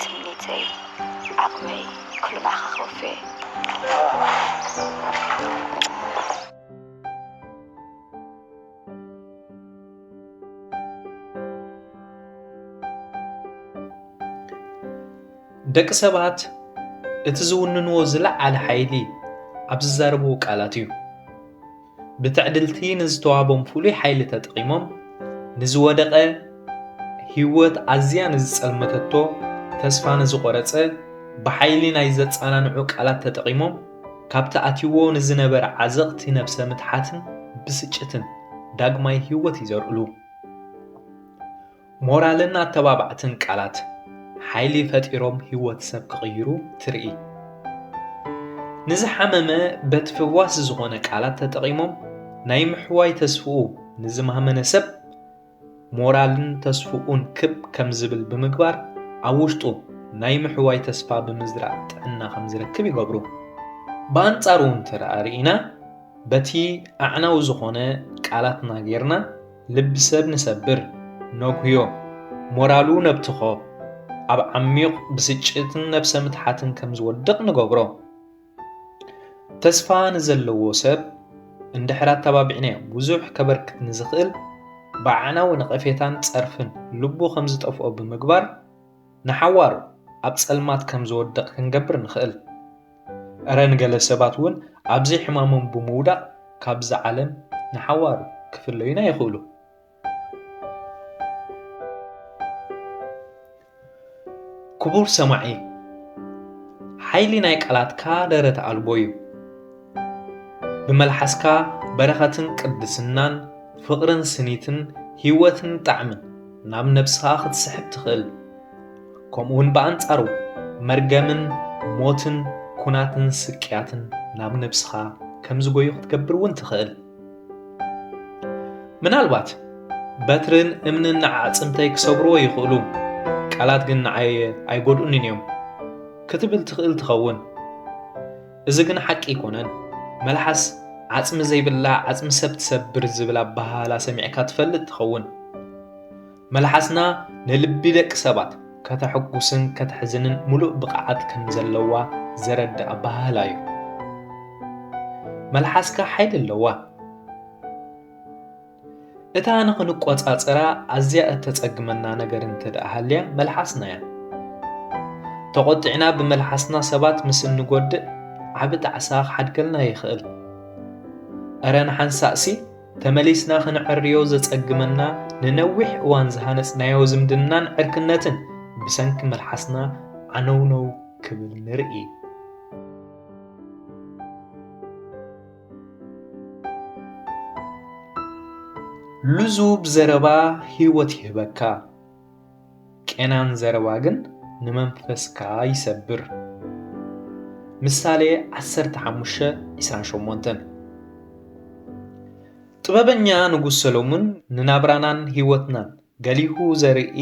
ትምኒተይ ዓቕመይ ኩሉ ንዓኻ ከወፌ። ደቂ ሰባት እቲ ዝውንንዎ ዝለዓለ ሓይሊ ኣብ ዝዛረብዎ ቃላት እዩ። ብትዕድልቲ ንዝተዋቦም ፍሉይ ሓይሊ ተጠቒሞም ንዝወደቐ ህይወት ኣዝያ ንዝጸልመተቶ ተስፋ ንዝቖረጸ ብሓይሊ ናይ ዘጸናንዑ ቃላት ተጠቒሞም ካብቲ ኣትይዎ ንዝነበረ ዓዘቕቲ ነብሰ ምትሓትን ብስጭትን ዳግማይ ህይወት ይዘርኡሉ። ሞራልን ኣተባባዕትን ቃላት ሓይሊ ፈጢሮም ህይወት ሰብ ክቕይሩ ትርኢ። ንዝሓመመ በቲ ፈዋሲ ዝኾነ ቃላት ተጠቒሞም ናይ ምሕዋይ ተስፍኡ ንዝማህመነ ሰብ ሞራልን ተስፍኡን ክብ ከም ዝብል ብምግባር ኣብ ውሽጡ ናይ ምሕዋይ ተስፋ ብምዝራእ ጥዕና ከም ዝረክብ ይገብሩ። ብኣንጻሩ እንተ ርኢና በቲ ኣዕናዊ ዝኾነ ቃላትና ጌርና ልቢ ሰብ ንሰብር ነጉህዮ፣ ሞራሉ ነብትኾ፣ ኣብ ዓሚዩቕ ብስጭትን ነብሰ ምትሓትን ከም ዝወድቕ ንገብሮ። ተስፋ ንዘለዎ ሰብ እንድሕር ኣተባቢዕናዮ ብዙሕ ከበርክት ንዝኽእል ብኣዕናዊ ነቐፌታን ጸርፍን ልቡ ከም ዝጠፍኦ ብምግባር ንሓዋሩ ኣብ ጸልማት ከም ዝወድቕ ክንገብር ንኽእል። እረ ንገለ ሰባት እውን ኣብ ዘይሕማሞም ብምውዳቕ ካብዛ ዓለም ንሓዋሩ ክፍለዩና ይኽእሉ። ክቡር ሰማዒ፣ ሓይሊ ናይ ቃላትካ ደረት ኣልቦ እዩ። ብመልሓስካ በረኸትን ቅድስናን፣ ፍቕርን ስኒትን፣ ህይወትን ጣዕምን ናብ ነብስኻ ክትስሕብ ትኽእል። ከምኡውን ብኣንጻሩ መርገምን ሞትን ኩናትን ስቅያትን ናብ ነብስኻ ከም ዝጎዩ ክትገብር እውን ትኽእል ምናልባት በትርን እምንን ንዓ ኣዕጽምተይ ክሰብርዎ ይኽእሉ ቃላት ግን ንዓየ ኣይጎድኡንን እዮም ክትብል ትኽእል ትኸውን እዚ ግን ሓቂ ኣይኮነን መልሓስ ዓጽሚ ዘይብላ ዓጽሚ ሰብ ትሰብር ዝብል ኣበሃህላ ሰሚዕካ ትፈልጥ ትኸውን መልሓስና ንልቢ ደቂ ሰባት ከተሕጉስን ከተሕዝንን ምሉእ ብቕዓት ከም ዘለዋ ዘረድእ ኣበሃህላ እዩ። መልሓስካ ሓይሊ ኣለዋ። እታ ንኽንቆጻጸራ ኣዝያ እተጸግመና ነገር እንተ ደኣ ሃልያ መልሓስና እያ። ተቖጢዕና ብመልሓስና ሰባት ምስ እንጎድእ ዓቢ ጣዕሳ ክሓድገልና ይኽእል። እረ ንሓንሳእሲ ተመሊስና ኽንዐርዮ ዘጸግመና ንነዊሕ እዋን ዝሃነጽናዮ ዝምድናን ዕርክነትን ብሰንኪ መልሓስና ዓነውነው ክብል ንርኢ። ልዙብ ዘረባ ህይወት ይህበካ። ቄናን ዘረባ ግን ንመንፈስካ ይሰብር። ምሳሌ ዓሰርተ ሓሙሽተ ዕስራን ሸሞንተን ጥበበኛ ንጉሥ ሰሎሙን ንናብራናን ሕይወትናን ገሊሁ ዘርኢ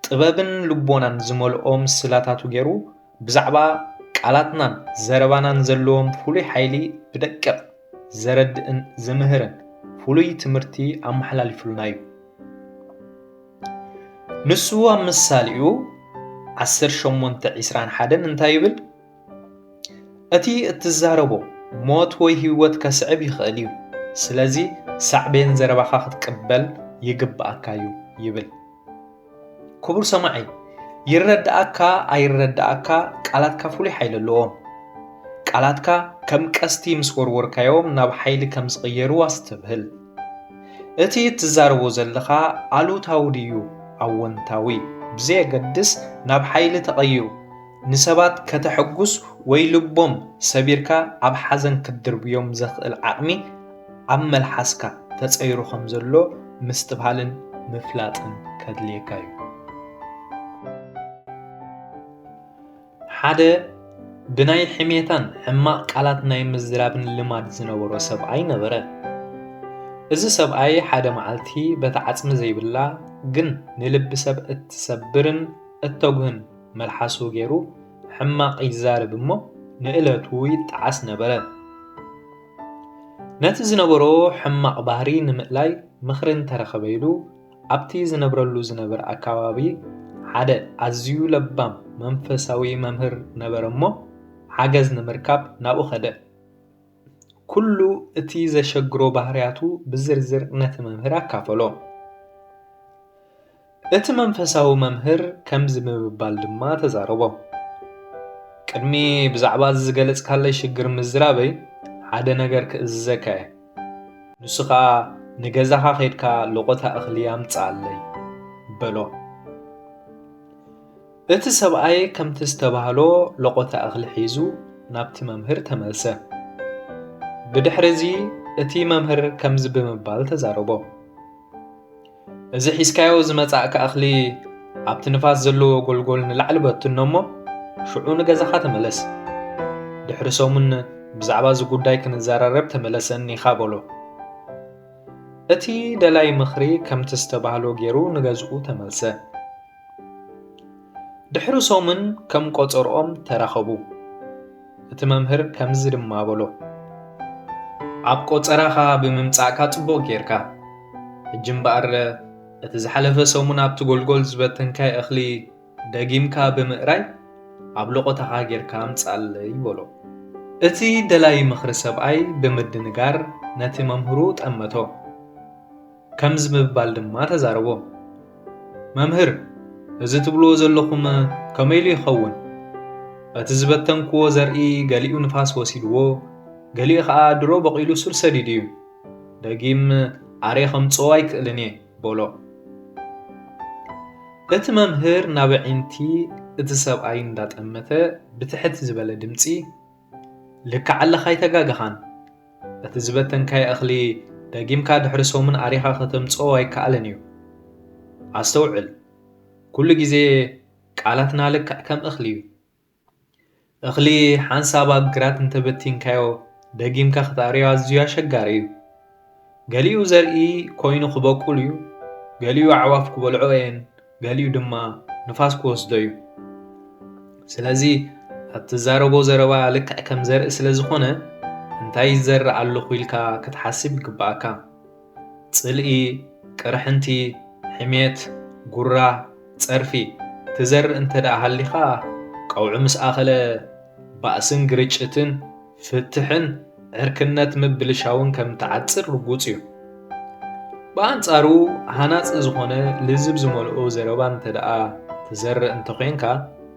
ጥበብን ልቦናን ዝመልኦ ምስላታቱ ገይሩ ብዛዕባ ቃላትናን ዘረባናን ዘለዎም ፍሉይ ሓይሊ ብደቂቕ ዘረድእን ዝምህርን ፍሉይ ትምህርቲ ኣመሓላሊፉልና እዩ። ንሱ ኣብ ምሳሌኡ ዓሰርተ ሸሞንተ ዒስራን ሓደን እንታይ ይብል? እቲ እትዛረቦ ሞት ወይ ህይወት ከስዕብ ይኽእል እዩ፣ ስለዚ ሳዕቤን ዘረባኻ ክትቅበል ይግብኣካ እዩ ይብል። ክቡር ሰማዒ ይረዳኣካ ኣይረዳኣካ ቃላትካ ፍሉይ ሓይሊ ኣለዎም። ቃላትካ ከም ቀስቲ ምስ ወርወርካዮም ናብ ሓይሊ ከም ዝቕየሩ ኣስተብህል። እቲ እትዛረቦ ዘለኻ ኣሉታዊ ድዩ ኣወንታዊ ብዘየገድስ ናብ ሓይሊ ተቐይሩ ንሰባት ከተሐጉስ ወይ ልቦም ሰቢርካ ኣብ ሓዘን ክትድርብዮም ዘኽእል ዓቕሚ ኣብ መልሓስካ ተጸይሩ ከም ዘሎ ምስትብሃልን ምፍላጥን ከድልየካ እዩ። ሓደ ብናይ ሕሜታን ሕማቕ ቃላት ናይ ምዝራብን ልማድ ዝነበሮ ሰብኣይ ነበረ። እዚ ሰብኣይ ሓደ መዓልቲ በታ ዓጽሚ ዘይብላ ግን ንልቢ ሰብ እትሰብርን እተጉህን መልሓሱ ገይሩ ሕማቕ ይዛረብ እሞ ንእለቱ ይጠዓስ ነበረ። ነቲ ዝነበሮ ሕማቕ ባህሪ ንምእላይ ምኽሪ እንተረኸበ ኢሉ ኣብቲ ዝነብረሉ ዝነበረ ኣከባቢ ሓደ ኣዝዩ ለባም መንፈሳዊ መምህር ነበረ እሞ ሓገዝ ንምርካብ ናብኡ ከደ። ኩሉ እቲ ዘሸግሮ ባህርያቱ ብዝርዝር ነቲ መምህር ኣካፈሎ። እቲ መንፈሳዊ መምህር ከምዚ ብምባል ድማ ተዛረቦም፣ ቅድሚ ብዛዕባ እዚ ዝገለጽካለይ ሽግር ምዝራበይ ሓደ ነገር ክእዝዘካ እየ፣ ንሱ ኸኣ ንገዛኻ ኼድካ ሎቖታ እኽሊ ኣምጽኣለይ በሎ። እቲ ሰብኣይ ከምቲ ዝተባህሎ ሎቖታ እኽሊ ሒዙ ናብቲ መምህር ተመልሰ። ብድሕሪ እዚ እቲ መምህር ከምዚ ብምባል ተዛረቦም፣ እዚ ሒዝካዮ ዝመጻእካ እኽሊ ኣብቲ ንፋስ ዘለዎ ጎልጎል ንላዕሊ በትኖ እሞ ሽዑ ንገዛኻ ተመለስ። ድሕሪ ሰሙን ብዛዕባ እዚ ጉዳይ ክንዘራረብ ተመለሰኒ ኢኻ በሎ። እቲ ደላይ ምኽሪ ከምቲ ዝተባህሎ ገይሩ ንገዝኡ ተመልሰ። ድሕሪ ሰሙን ከም ቆጸርኦም ተራኸቡ። እቲ መምህር ከምዚ ድማ በሎ፣ ኣብ ቆጸራኻ ብምምጻእካ ጽቡቕ ጌርካ። ሕጂ እምበኣር እቲ ዝሓለፈ ሰሙን ኣብቲ ጎልጎል ዝበተንካዮ እኽሊ ደጊምካ ብምእራይ ኣብ ሎቖታኻ ጌርካ ኣምጽኣለይ በሎ። እቲ ደላዪ ምኽሪ ሰብኣይ ብምድንጋር ነቲ መምህሩ ጠመቶ። ከምዚ ብምባል ድማ ተዛረቦም፣ መምህር፣ እዚ ትብልዎ ዘሎኹም ከመይ ኢሉ ይኸውን? እቲ ዝበተንክዎ ዘርኢ ገሊኡ ንፋስ ወሲድዎ፣ ገሊኡ ኸኣ ድሮ በቚሉ ሱር ሰዲዱ እዩ። ደጊም ኣርየ ኸምጽኦ ኣይክእልን እየ፣ በሎ። እቲ መምህር ናብ ኣዒንቲ እቲ ሰብኣይ እንዳጠመተ ብትሕት ዝበለ ድምጺ፣ ልክዕ ኣለኻ ኣይተጋገኻን እቲ ዝበተንካዮ እኽሊ ደጊምካ ድሕሪ ሰሙን ኣሪኻ ከተምጽኦ ኣይከኣልን እዩ ኣስተውዕል ኩሉ ግዜ ቃላትና ልክዕ ከም እኽሊ እዩ እኽሊ ሓንሳብ ኣብ ግራት እንተበቲንካዮ ደጊምካ ክትኣርዮ ኣዝዩ ኣሸጋሪ እዩ ገሊኡ ዘርኢ ኰይኑ ኺበቍል እዩ፣ ገሊኡ ኣዕዋፍ ኪበልዕኦ እየን፣ ገሊኡ ድማ ንፋስ ኪወስዶ እዩ። ስለዚ፣ እትዛረቦ ዘረባ ልክዕ ከም ዘርኢ ስለ ዝዀነ፣ እንታይ ይዘርእ ኣለኹ ኢልካ ኽትሓስብ ይግብኣካ። ጽልኢ፣ ቅርሕንቲ፣ ሕሜት፣ ጕራ፣ ጸርፊ ትዘርእ እንተ ደኣ ሃሊኻ፣ ቀውዒ ምስ ኣኸለ፣ ባእስን ግርጭትን፣ ፍትሕን ዕርክነት ምብልሻውን ከም እትዓጽር ርጉጽ እዩ። ብኣንጻሩ ሃናጺ ዝኾነ ልዝብ ዝመልኦ ዘረባ እንተደኣ ትዘርእ እንተኾይንካ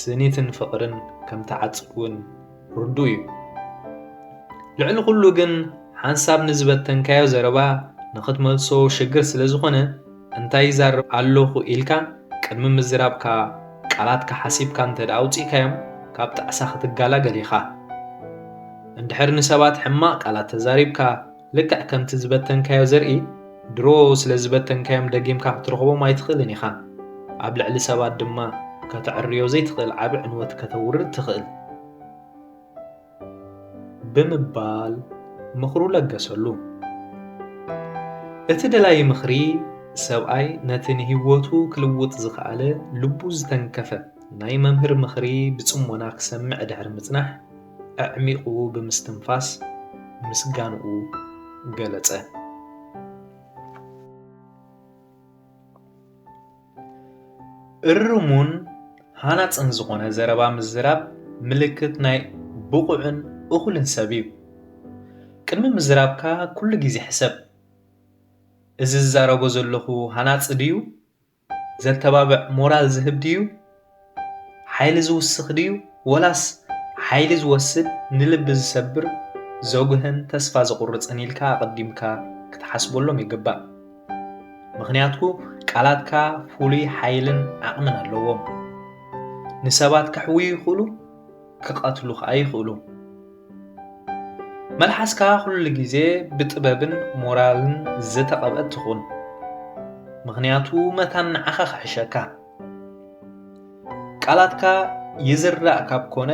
ስኒትን ፍቕርን ከም እትዓጽድ እውን ርዱእ እዩ። ልዕሊ ኩሉ ግን ሓንሳብ ንዝበተንካዮ ዘረባ ንኽትመልሶ ሽግር ስለ ዝኾነ እንታይ ይዛረብ ኣሎኹ ኢልካ ቅድሚ ምዝራብካ ቃላትካ ሓሲብካ እንተድኣ ኣውጺእካዮም ካብ ጣዕሳ ክትጋላገል ኢኻ። እንድሕር ንሰባት ሕማቕ ቃላት ተዛሪብካ ልክዕ ከምቲ ዝበተንካዮ ዘርኢ ድሮ ስለ ዝበተንካዮም ደጊምካ ክትረኽቦም ኣይትኽእልን ኢኻ። ኣብ ልዕሊ ሰባት ድማ ከተዐርዮ ዘይትኽእል ዓቢ ዕንወት ከተውርድ ትኽእል። ብምባል ምኽሩ ለገሰሉ። እቲ ደላዪ ምኽሪ ሰብኣይ ነቲ ንህይወቱ ክልውጥ ዝኸኣለ ልቡ ዝተንከፈ ናይ መምህር ምኽሪ ብጽሞና ክሰምዕ ድሕሪ ምጽናሕ፣ ኣዕሚቝ ብምስትንፋስ ምስጋንኡ ገለጸ። እርሙን ሃናጽን ዝኾነ ዘረባ ምዝራብ ምልክት ናይ ብቑዕን እኹልን ሰብ እዩ። ቅድሚ ምዝራብካ ኩሉ ግዜ ሕሰብ፣ እዚ ዝዛረቦ ዘለኹ ሃናጺ ድዩ? ዘተባብዕ ሞራል ዝህብ ድዩ? ሓይሊ ዝውስኽ ድዩ ወላስ ሓይሊ ዝወስድ ንልቢ ዝሰብር ዘጉህን ተስፋ ዘቑርጽን ኢልካ ኣቐዲምካ ክትሓስበሎም ይግባእ። ምኽንያቱ ቃላትካ ፍሉይ ሓይልን ዓቕምን ኣለዎም። ንሰባት ከሕውዩ ይኽእሉ ክቐትሉ ከኣ ይኽእሉ። መልሓስካ ኩሉ ግዜ ብጥበብን ሞራልን ዝተቐብአት ትኹን። ምኽንያቱ መታን ንዓኻ ክሕሸካ። ቃላትካ ይዝራእ ካብ ኮነ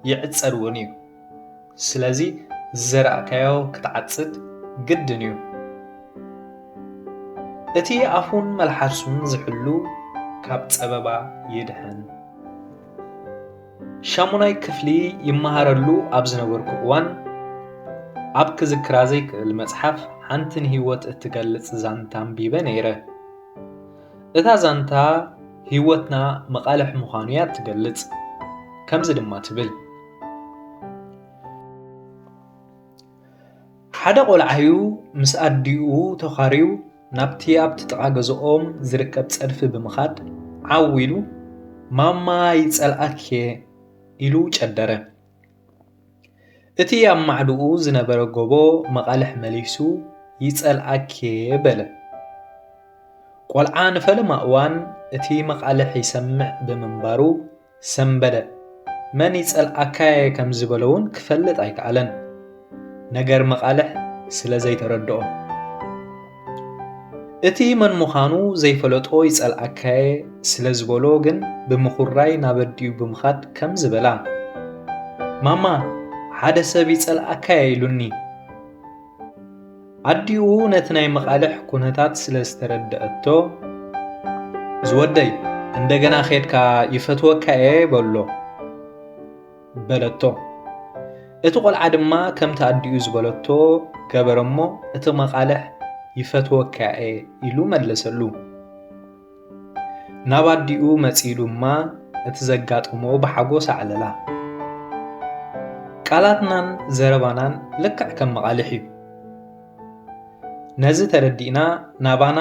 ይዕጸድ እውን እዩ ስለዚ ዝዘራእካዮ ክትዓጽድ ግድን እዩ እቲ ኣፉን መልሓሱን ዝሕሉ ካብ ጸበባ ይድሕን ሻሙናይ ክፍሊ ይመሃረሉ ኣብ ዝነበርኩ እዋን ኣብ ክዝክራ ዘይክእል መጽሓፍ ሓንቲ ንህይወት እትገልጽ ዛንታ ኣንቢበ ነይረ እታ ዛንታ ህይወትና መቓልሕ ምዃኑ እያ እትገልጽ። ከምዚ ድማ ትብል፣ ሓደ ቈልዓ'ዩ ምስ ኣዲኡ ተዃርዩ ናብቲ ኣብቲ ጥቓ ገዝኦም ዝርከብ ጸድፊ ብምኻድ ዓው ኢሉ፣ ማማ ይጸልኣኪ'የ፣ ኢሉ ጨደረ። እቲ ኣብ ማዕድኡ ዝነበረ ጎቦ መቓልሕ መሊሱ ይጸልኣኪ'የ በለ። ቆልዓ ንፈለማ እዋን እቲ መቓልሕ ይሰምዕ ብምንባሩ ሰምበደ። መን ይጸልኣካ'የ ከም ዝበሎ'ውን ክፈልጥ ኣይከኣለን፣ ነገር መቓልሕ ስለ ዘይተረድኦ። እቲ መን ምዃኑ ዘይፈለጦ ይጸልኣካየ ስለ ዝበሎ ግን ብምኹራይ ናብ ኣዲኡ ብምኻድ ከምዚ በላ፣ ማማ ሓደ ሰብ ይጸልኣካየ ኢሉኒ። ኣዲኡ ነቲ ናይ መቓልሕ ኩነታት ስለ ዝተረድኣቶ፣ ዝወደይ እንደገና ኬድካ ይፈትወካየ በሎ። በለቶ። እቲ ቈልዓ ድማ ከምቲ ኣዲኡ ዝበለቶ ገበረ እሞ እቲ መቓልሕ ይፈትወካ እየ ኢሉ መለሰሉ። ናብ ኣዲኡ መጺኡ ድማ እቲ ዘጋጠሞ ብሓጎስ ኣዕለላ። ቃላትናን ዘረባናን ልክዕ ከም መቓልሕ እዩ። ነዚ ተረዲእና ናባና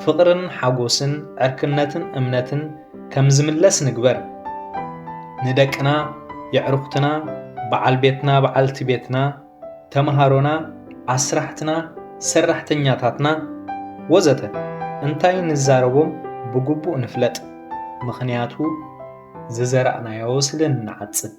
ፍቕርን ሓጎስን ዕርክነትን እምነትን ከም ዝምለስ ንግበር። ንደቅና፣ የዕሩኽትና፣ በዓል ቤትና በዓልቲ ቤትና፣ ተመሃሮና፣ ኣስራሕትና፣ ሰራሕተኛታትና፣ ወዘተ እንታይ ንዛረቦም ብግቡእ ንፍለጥ፣ ምኽንያቱ ዝዘራእናዮ ስለ እንዓጽድ።